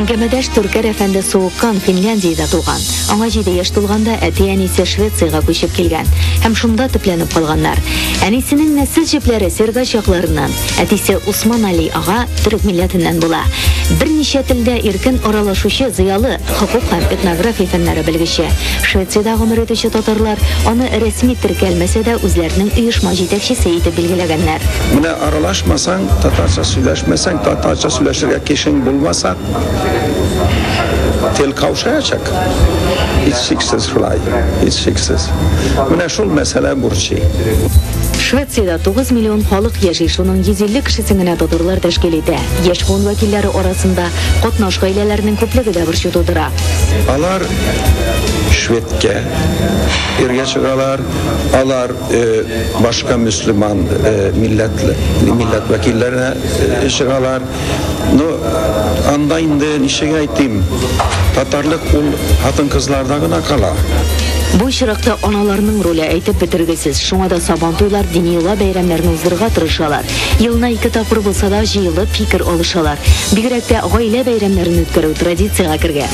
Әңгәмәдәш Түркәр әфәнде Суыккан Финляндиядә туган. Аңа 7 яшь тулганда әти-әнисе Швециягә күчеп килгән һәм шунда төпләнеп калганнар. Әнисенең нәсел җепләре Сергач якларыннан, әтисе Усман Али ага төрек милләтеннән була. Берничә телдә иркен аралашучы зыялы, хокук һәм этнография фәннәре белгече. Швециядә гомер итүче татарлар аны рәсми теркәлмәсә дә үзләренең оешма җитәкчесе итеп билгеләгәннәр. Менә аралашмасаң, татарча сөйләшмәсәң, татарча сөйләшергә кешең булмаса, тел каушаячак. Һичшиксез шулай, һичшиксез. Менә шул мәсьәлә борчый. Швециядә 9 миллион халык яши, шуның 150 кешесен генә татарлар тәшкил итә. Яшь буын вәкилләре арасында катнаш гаиләләрнең күплеге дә борчу тудыра. Алар шведка иргә чыгалар алар башка мөселман милләтле милләт вәкилләренә чыгалар ну анда инде ничек әйтим татарлык ул хатын кызларда гына кала Бу очракта аналарның роле әйтеп бетергесез. Шуңа да сабан туйлар, дини йола бәйрәмнәрне уздырырга тырышалар. Елына ике тапкыр булса да җыелып фикер алышалар. Бигрәк тә гаилә бәйрәмнәрен үткәрү традициягә кергән.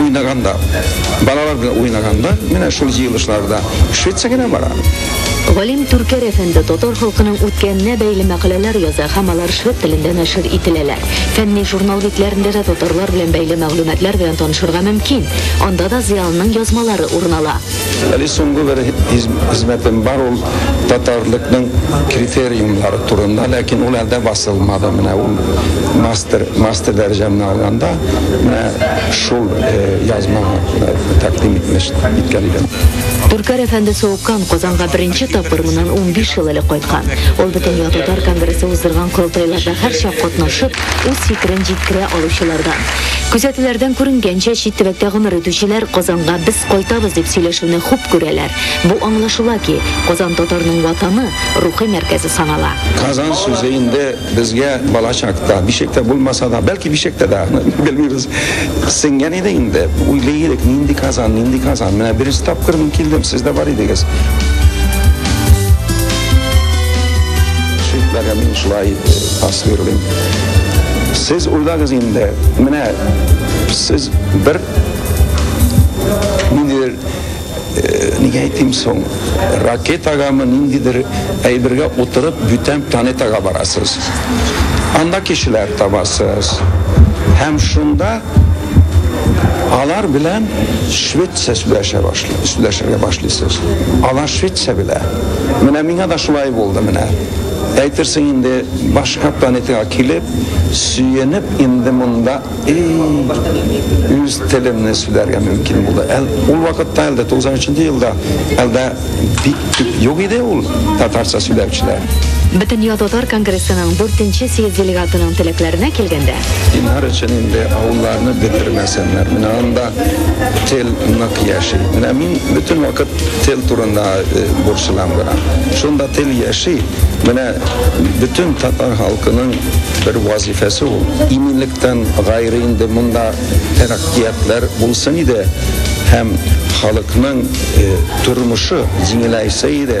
уйнаганда, балалар белән уйнаганда, менә шул җыелышларда Швеция генә бара. Галим Түркәр әфәнде татар халкының үткәненә бәйле мәкаләләр яза һәм алар швед телендә нәшер ителәләр. Фәнни журнал битләрендә дә татарлар белән бәйле мәгълүматлар белән танышырга мөмкин. Анда да зыялының язмалары урын ала. Әле соңгы бер хезмәтем бар, ул татарлыкның критериумнары турында, ләкин ул әлдә басылмады. Менә ул мастер, мастер дәрәҗәмне алганда, менә шул язма тәкъдим итмеш, иткән идем. Түркәр әфәнде Соуккан Казанга беренче тапкыр моннан унбиш ел элек кайткан. Ул Бөтенләй татар конгрессы уздырган корылтайларда һәрчак катнашып, үз фикерен җиткерә алучылардан. Күзәтүләрдән күренгәнчә, чит төбәктә гомер итүчеләр Казанга без кайтабыз дип сөйләшүне хуп күрәләр. Бу аңлашыла ки, Казан татарның ватаны, рухи мәркәзе санала. Казан сүзе инде безгә балачакта, бишектә булмаса да, бәлки бишектә дә, аны белмибез, сеңгән иде инде. Уйлый идек, нинди Казан, нинди Казан, менә беренче тапкыр мин килдем, сез дә бар идегез. Шитләгән мин шулай. Асверлин. Сез уйлагыз инде, менә сез бер ниндидер э, нигә әйтим соң ракетагамы ниндидер әйбергә утырып бүтән планетага барасыз анда кешеләр табасыз һәм шунда алар белән швеция сөйләшә башлый сөйләшергә башлыйсыз алар швеция белә менә миңа да шулай булды менә Әйтерсең инде, башка планетага килеп, сөенеп инде монда и үз телемне сөйләргә мөмкин булды. Әл, ул вакытта әлдә 93 елда әлдә бик күп юк иде ул татарча сөйләүчеләр. Бөтендөнья татар конгрессының 4-нче съезд делегатының теләкләренә килгәндә, Динар өчен инде авылларны бетермәсеннәр. Менә анда тел нык яши. Менә мин бөтен вакыт Тел турында борчылам гына. Шунда тел яши. Менә бөтен татар халкының бер вазифасы ул. Иминлектән гайре инде монда тәрәккыятләр булсын иде һәм халыкның тормышы җиңеләйсә иде.